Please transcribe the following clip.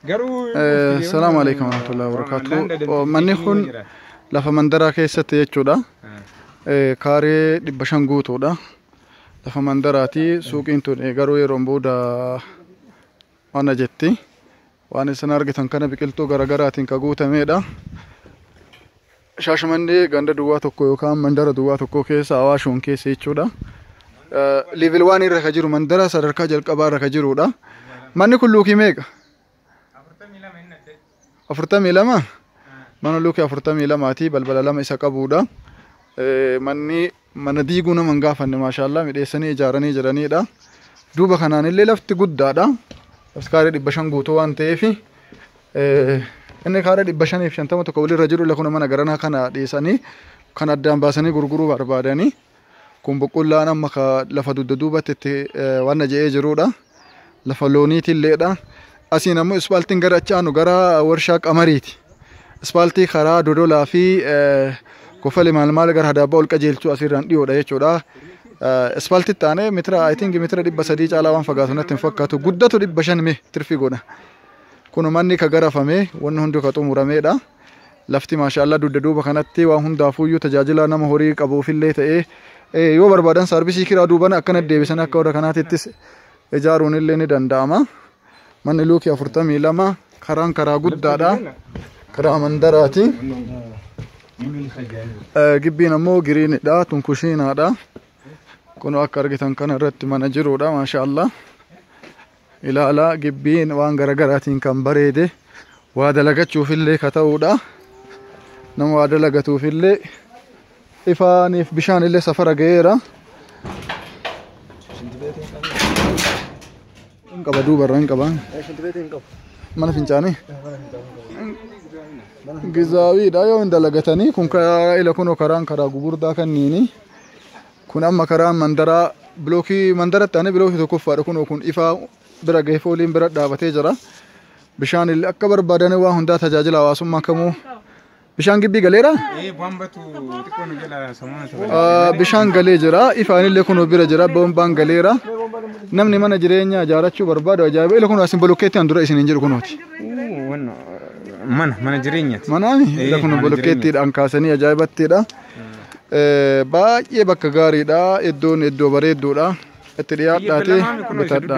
Garuu ufti deemuun Salaamu waan alaikum warahmatullahi waan wabarakatuh. Landa dandeettii Manni keenya kun irra jira. lafa mandaraa keessatti jechuudha. Ah. Eh, Kaaree dhibba shan guutuudha. Lafa mandaraati. Suuqiin tun eh, garuu yeroon booda mana jetti. Waan isin argitan kana biqiltuu garaagaraatiin ka guutameedha. Shaashamannee ganda duwwaa tokko yookaan mandara duwwaa tokkoo keessa Awaashoon keessa jechuudha. Level 1 irra ka jiru mandara sadarkaa jalqabaa irra ka jirudha. Manni kun luukii meeqa? Afurtamii lama? Mana luukii afurtamii lamaati balbala lama isa qabudha. Manni Mana diiguu nama hin gaafanne maashaallah midheessanii ijaaranii jedhaniidha. Duuba kanaan illee lafti guddaadha. Lafti kaaree dhibba shan guutuu waan ta'eef inni kaaree dhibba shanii fi shantama tokko walirra jiru illee kun mana garanaa kana dhiisanii kan addaan baasanii gurguruu barbaadanii kun boqqollaan amma lafa dugda duubatti itti waan na je'ee jiruudha. lafa looniitiilleedha. Asiin ammoo ispaaltiin gara achi aanu gara warshaa qamariiti. Ispaaltii karaa dodolaa fi kofale maal maal gara hadaabbaa ol qajeelchuu asirraan dhiyoodha jechuudha. Ispaaltii taane mitira I think mitira dhibba sadii caalaa waan fagaatu natti hin fakkaatu. Guddatu dhibba shan mee tirfi godha. Kun manni ka garafame wanni hundi ka xumurameedha. Lafti maashaallah dugda duuba kanatti waan hundaafuuyyuu tajaajila nama horii qabuufillee ta'ee eh, yoo barbaadan saarbisii kiraa duubana akkana deebisan akka warra kanaatittis ijaaruun illee ni danda'ama. Manni luukii afurtamii lama karaan karaa guddaadha. Karaa mandaraati. Eh, Gibbiin ammoo giriinidha. Tun kushiinaadha. Kun akka argitan kana irratti mana jiruudha maashaallah. Ilaalaa gibbiin waan garagaraatiin kan bareede waa dalagachuufillee ka ta'uudha. Nama waa dalagatuufillee ifaaniif bishaanillee safara ga'eera. Hin qaba duubarra hin qaba. Mana fincaanii. Gizaawiidha yoo hin dalagatanii kun karaa ila kunoo karaan karaa gugurdaa kanniini. Kun amma karaan mandaraa bilookii mandaratti aanee bilookii tokkoffaadha kunoo kun ifaa bira gahee fooliin bira dhaabatee jira. Bishaan illee akka barbaadan waan hundaa tajaajila hawaasummaa kamuu bishaan gibbii galeera. Ee bambatu xiqqoo nu jala sammuu na taphata. Ah, Bishaan galee jira ifaan illee kunoo bira jira boombaan galeera. Namni mana jireenyaa ijaarachuu barbaadu ajaa'iba illee kunoo asin bolokkeettiin dura isin hin jiru kunooti. Uu, wanna, Mana mana jireenyaati. Manaami Eh, illee kunoo mana bolokkeettiidhaan kaasanii ajaa'ibattiidha. Baay'ee bakka gaariidha. Iddoon iddoo bareedduudha. Itti dhiyaadhaati bitadha.